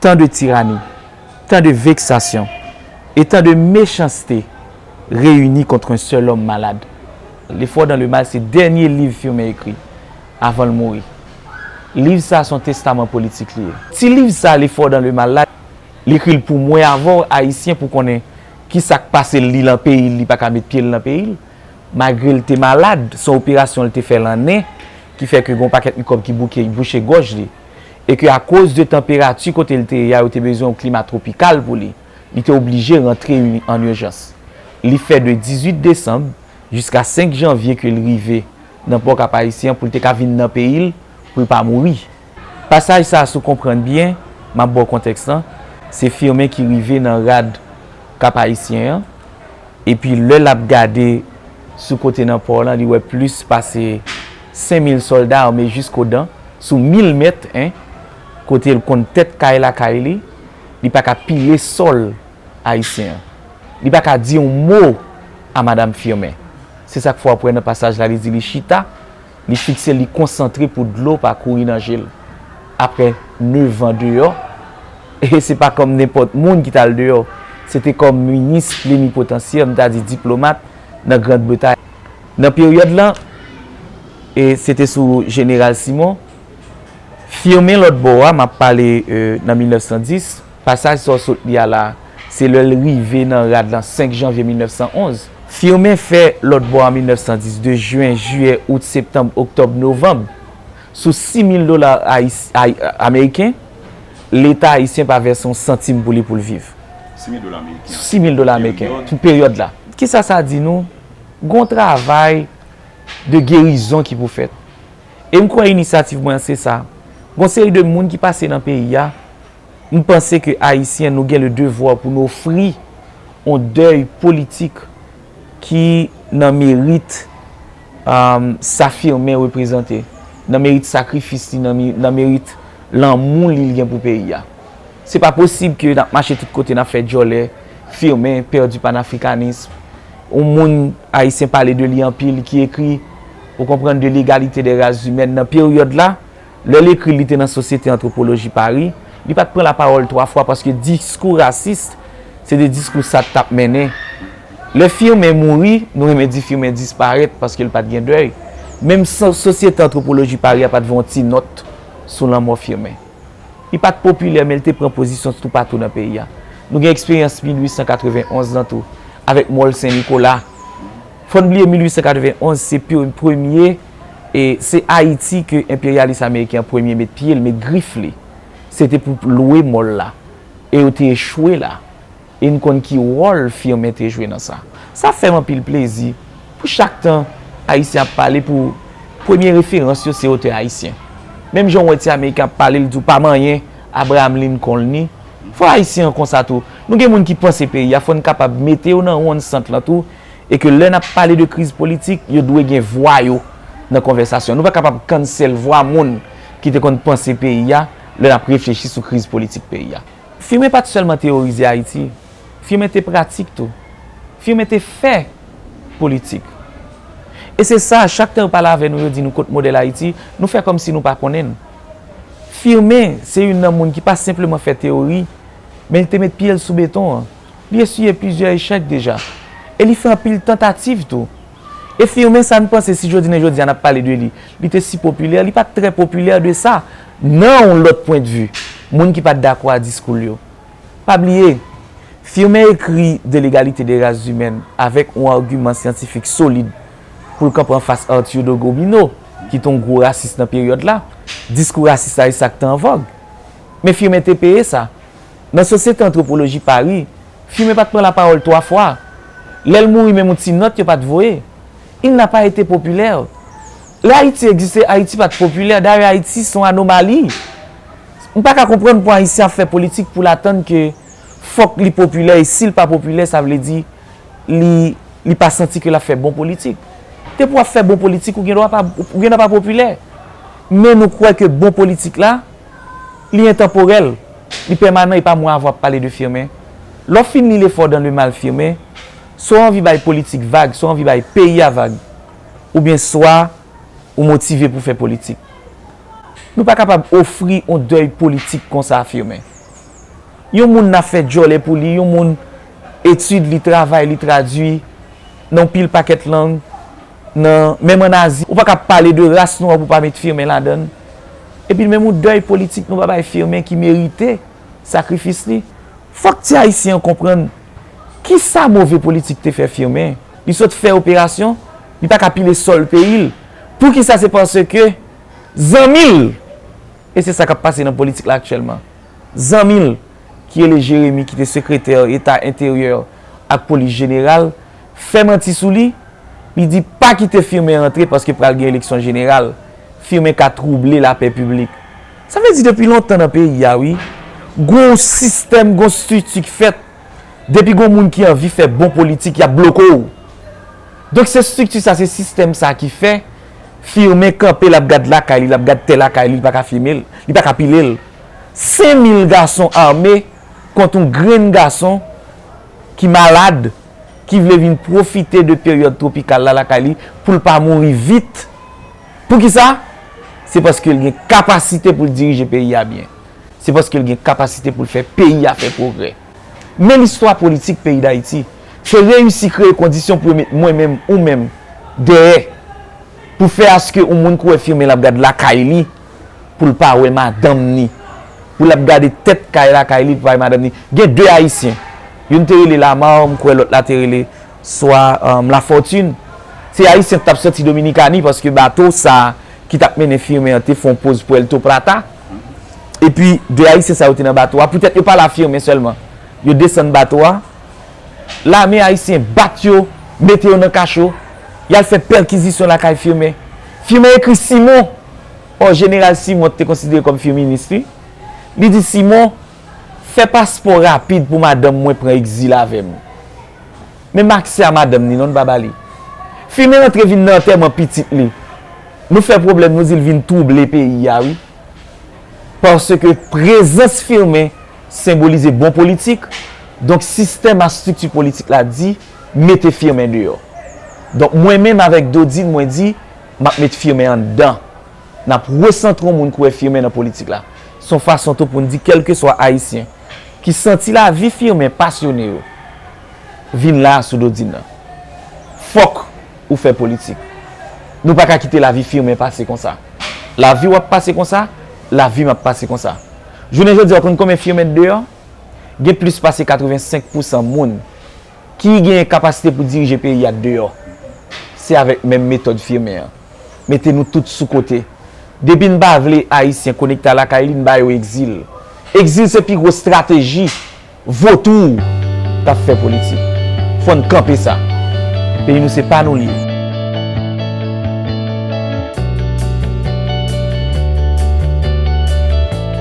Tan de tirani, tan de veksasyon, e tan de mechanste reyini kontr un sèl òm malad. L'effort dans le mal se dènye liv Firmin ekri avan l mouri. Liv sa s on testaman politik li ye. Ti liv sa L'effort dans le mal la, l ekri l pou mwen avè w Ayisyen pou konnen ki sa k pase l li lan peyi l li pa ka met pye l lan peyi l. Malgre l te malad, s on operasyon l te fè lan nen ki fè ke gen yon pakèt mikwòb ki bouke bouche gòj li. e ke akoz de tanperati kote l te ye a yo te bezwen yon klima twopikal pou li, li te oblije rantre an ijans. Li fè de 18 desanm jiska 5 janvye ke l rive nan pò Kapayisyen an pou l te ka vin nan peyi l pou l pa mouri. Pasaj sa a si w konprann byen, m ap ba w kontèks lan, se Firmin ki rive nan rad Kapayisyen an epi lè l ap gade sou kote nan pò lan li wè plis pase 5000 sòlda ame jiskodan sou mil mèt 1 kote l konn tèt kay lakay li, li pa ka pile sòl ayisyen an. Li pa ka di yon mo a Madam Firmin. Se sa k fè w ap wè nan pasaj la li di li chita, li fikse l, li konsantre pou dlo pa kouri nan je l. Aprè nevan deyò, e se pa kòm nenpòt moun ki t al deyò, se te kòm minis plenipotansyè, m ta di diplomat, nan Grand Bretay. Nan peryòd la, e se te sou jeneral Simon, Firmin lòt bò a, m ap pale nan 1910, pasaj sa w sot li a la a, se lè l rive nan rad lan 5 janvye 1911. Firmin fè lòt bò an 1910, de jen, jiyè, out, septanb, oktòb, novanb, sou 6000 dola ameriken, Leta ayisyen pa vèse yon santim pou li pou l viv. 6000 dola ameriken. Sou 6000 dola ameriken, pou peryòd la. Ki sa sa di nou Gon travay de gerizon ki pou fèt. E m kwè inisyativ mwen an se sa. Gon seri de moun ki pase nan peyi a, m panse ke Ayisyen nou gen le devwa pou nou ofri on dèy politik ki nan merit sa Firmin reprezante, nan merit sakrifis li, nan merit lanmou li l gen pou peyi a. Se pa posib ke nap mache tout kote nap fè djòlè, Firmin pèdi panafrikanism, yon moun Ayisyen pale de li anpil ki ekri, ou konprann, de l'égalité des races humaines nan peryòd la, lè l ekri l li te nan Sosyete Antwopoloji Pari, li pat pran lapawòl twa fwa paske diskou rasis se te diskou Sat tap mennen. Lè Firmin mouri, nou renmen di Firmin disparèt paske l pat gen dèy, menm Sosyete Antwopoloji Pari a pat voye yon ti nòt sou lanmò Firmin. Li pa t popilè men li te pran pozisyon toupatou nan peyi a. Nou gen eksperyans 1891 lan tou avèk Mòl Sen Nikola. Fò n bliye 1891 se premye, se Ayiti ke enperyalis ameriken an premye met pye l, met grif li. Se te pou lwe mòl la e yo te echwe la. e n konn ki wòl Firmin te jwe nan sa. Sa fè m anpil plezi pou chak tan Ayisyen ap pale pou premye referans yo se otè Ayisyen. Menm jan w wè ti Ameriken ap pale l di w pa manyen Abraham Lincoln ni, fò Ayisyen an konsa tou. Nou gen moun ki panse peyi a fò n kapab mete yo nan wonn sant lan tou e ke lè n ap pale de kriz politik yo dwe gen vwa yo nan konvèsasyon. Nou pa kapab cancel vwa moun ki te konn panse peyi a lè n ap reflechi sou kriz politik peyi a. Firmin pa t sèlman teyorize Ayiti, Firmin te pratik tou. Firmin te fè politik. E se sa, chak tan yo pale avè nou, yo di nou kot modèl Ayiti, nou fè kòm si nou pa konnen l. Firmin se youn nan moun ki pa senpleman fè teyori, men li te met pye l sou beton an. Li esiye plizyè echèk deja. E li fè anpil tantativ tou. E firme sa n panse si jodi nen jodi a n ap pale de li, li te si popilè, li pa t trè popilè de sa nan yon lòt pwendvi moun ki pa t dakò a diskou l yo. Pa bliye, Firme ekri De l'égalité des races humaines avèk yon agiman syantifik solid pou l kanpe anfas Arthur de Gobineau ki te yon gwo rasis nan peryòd la. Diskou rasis la e sa k te an vòg. Men Firme te peye sa. Nan Sosyete Antwopoloji Pari, Fimen pa t pran lapawòl twa fwa. Lè l mouri menm yon ti nòt yo pa t voye. Il n'a pas été populaire. Lè Ayiti egziste, Ayiti pa t popilè. Dayè Ayiti s on anomali. M pa ka konprann pou Ayisyen ap fè politik pou l atann ke fòk li popilè e si l pa popilè sa vle di li li pa santi ke l ap fè bon politik. Depi w ap fè bon politik ou gendwa pa ou gendwa pa popilè. Men nou kwè ke bon politik la. Li entanporèl, li pèmanan epa mwen avwa pale de Firmin. Lè w fin li Le fort dans le mal Firmin, swa w anvi bay politik vag, swa w anvi bay peyi a vag, oubyen swa ou motive pou fè politik. Nou pa kapab ofri on dèy politik konsa Firmin. Yon moun na fè djòlè pou li, yon moun etid li, travay li tradui nan on pil pakèt lang, nan, menm an Azi, ou pa ka pale de ras nou an pou pa met Firmin ladan l. Epi menm yon dèy politik nou pa bay Firmin ki merite sakrifis li. Fòk ti Ayisyen an konprann ki sa move politik te fè Firmin. Li sot fè operasyon, li pa ka pile sòl peyi l. Pou ki sa se paske zanmi l, e se sa k ap pase nan politik la aktyèlman, zanmi l ki rele Jeremi ki te sekretè eta enteryè ak polis jeneral, fè manti sou li, li di pa kite Firmin rantre paske pral gen eleksyon jeneral, Firmin ka twouble lapè piblik. Sa vle di depi lontan nan peyi a wi, gon w sistèm, gon strikti k fèt, depi gon moun ki anvi fè bon politik y ap bloke w. Donk se strikti sa, se sistèm sa ki fè Firmin kanpe l ap gad lakay li, l ap gad tè lakay li, li pa ka fime l, li pa ka pile l. Sen mil gason ame kont yon grenn gason ki malad, ki vle vin pwofite de peryòd twopikal la lakay li pou l pa mouri vit. Pou ki sa? Se paske l gen kapasite pou l dirije peyi a byen. Se paske l gen kapasite pou l fè peyi a fè pwogrè. Men listwa politik peyi Dayiti te reyisi kreye kondisyon pou yo met mwen menm, ou menm, dèyè pou fè aske yon moun kouwè fimen l ap gad lakay li, pou l pa wè madanm ni, pou l ap gade tèt kay lakay li pou l pa wè madanm ni. Gen 2 Ayisyen, youn te rele Lamar, m kwè lòt la te rele swa Lafortune. Se Ayisyen ki t ap soti Dominikani paske bato sa a ki t ap mennen Firmin an te fè yon poz Puerto Plata. Epi 2 Ayisyen sa yo te nan bato a, poutèt yo pale a Firmin sèlman. Yo desann bato a, lame Ayisyen bat yo, mete yo nan kacho, y al fè pèkizisyon lakay Firmin. Firmin ekri Simon. Ò Jeneral Simon t te konsidere kòm fye minis li. Li di Simon, Fè paspò rapid pou madanm mwen pran egzil avè m. Men m pa aksè a madanm ni non, n pa ba li. Fi m rantre vin nan antèman pitit li. Nou fè pwoblèm nou di l vin twouble peyi a wi. Paske prezans Firmin senbolize bon politik, donk sistèm a strikti politik la di mete Firmin deyò. Donk mwen menm avèk Dodine mwen di, M ap met Firmin anndan. N ap resantre yon moun ki wè Firmin nan politik la. Se yon fason tou pou n di kèlkeswa Ayisyen ki santi lavi Firmin pasyone yo, vin la a sou do Dina. Fòk ou fè politik. Nou pa ka kite lavi Firmin pase konsa. Lavi w ap pase konsa, lavi m ap pase konsa. Jounen jodi a ou konn konbyen Firmin t deyò? Gen plis pase 85 pousan moun. ki gen kapasite pou dirije peyi a deyò se avèk menm metòd Firmin an mete nou tout sou kote depi n pa vle ayisyen konekte a lakay li n ba yo egzil egzil se pi gwo strateji votou k ap fè politik fò n kanpe sa peyi nou se pa nou li ye.